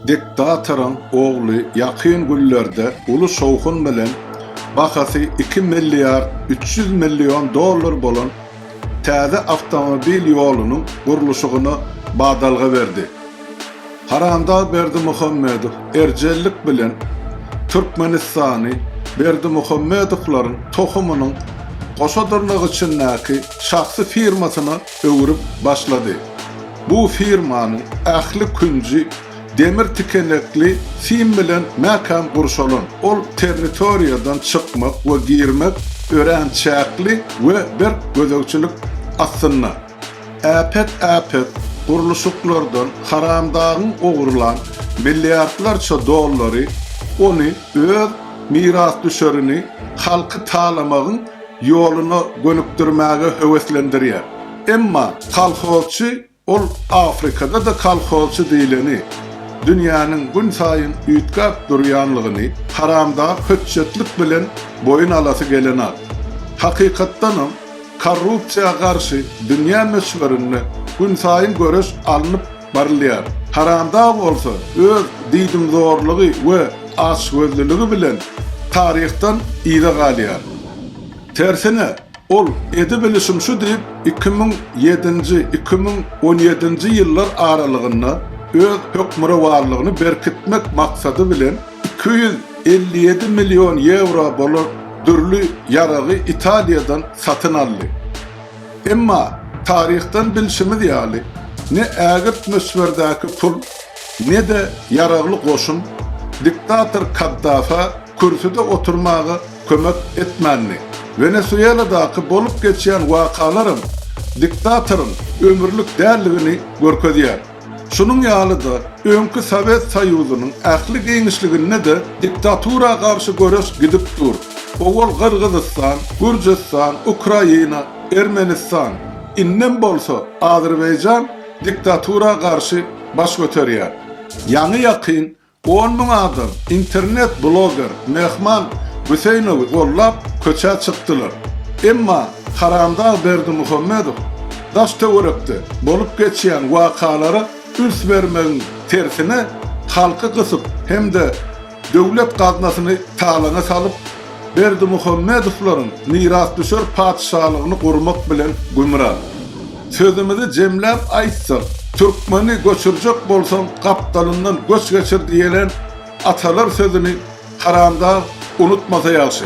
Diktatoryň ogly ýakyn günlerde uly şowhun bilen bahasy iki milliard üç ýüz million dollar bolan täze awtomobil ýolunyň gurluşygyna badalga berdi. Haramdag Berdimuhamedow erjellik bilen Türkmenistany Berdimuhamedowlaryň tohumynyň goşa dyrnak içindäki şahsy firmasyna öwrüp başlady. Bu firmanyň ähli künji demir tikenekli sim bilen mäkäm gurşalan. Ol territoriýadan çykmak we girmek örän çäkli we berk gözegçilik astynda. Äpet-äpet gurluşyklardan haramdagyň ogurlan milliardlarça dollary ony öz mirasdüşerini halky talamagyň ýoluna gönükdirmäge höweslendirýär. Emma kolhozçy ol Afrikada-da kolhozçy diýleni, dünýäniň günsaýyn üýtgäp durýanlygyny haramdag hötjetlik bilen boýun alasy gelenok. Hakykatdanam, korrupsiýa garşy dünýä möçberinde günsaýyn göreş alnyp barylýar. Haramdag bolsa öz diýdimzorlugy we açgözlüligi bilen taryhdan yza galýar. Tersine, ol edibilişim şu diýip iki müň ýedinji, iki müň on ýedinji ýyllar aralygynda öz hökmürowanlygyny berkitmek maksady bilen iki ýüz elli ýedi million ýewro bolan dürli ýaragy Italiýadan satyn aldy. Emma taryhdan bilşimiz ýaly, ne ägirt möçberdäki pul, ne-de ýaragly goşun diktator Kaddafä kürsüde oturmaga kömek etmändi. Wenesueladaky bolup geçýän wakalaram diktatoryň ömürlik däldigini görkezýär. Şunuň ýaly-da, öňki Sowet Soýuzynyň ähli giňişliginde-de diktatura garşy göreş gidip dur. Owal Gyrgyzystan, Gürjüstan, Ukraina, Ermenistan, indem bolsa Azerbaýjan diktatura garşy baş göterýär. Ýaňy-ýakyn On müň adam internet bloger Mehman Hüseýnowy gollap köçä çykdylar. Emma Haramdag Berdimuhamedow daş-töwerekde bolup geçýän wakalara üns bermegiň tersine halky gysyp hem-de döwlet gaznasyny talaňa salyp, Berdimuhamedowlaryň mirasdüşer patyşalygyny gurmak bilen gümra. Sözümizi jemläp aýtsak, Türkmeni göçürjek bolsaň, gapdalyndan göç geçir diýlen atalar sözüni haramdag unutmasa ýagşy.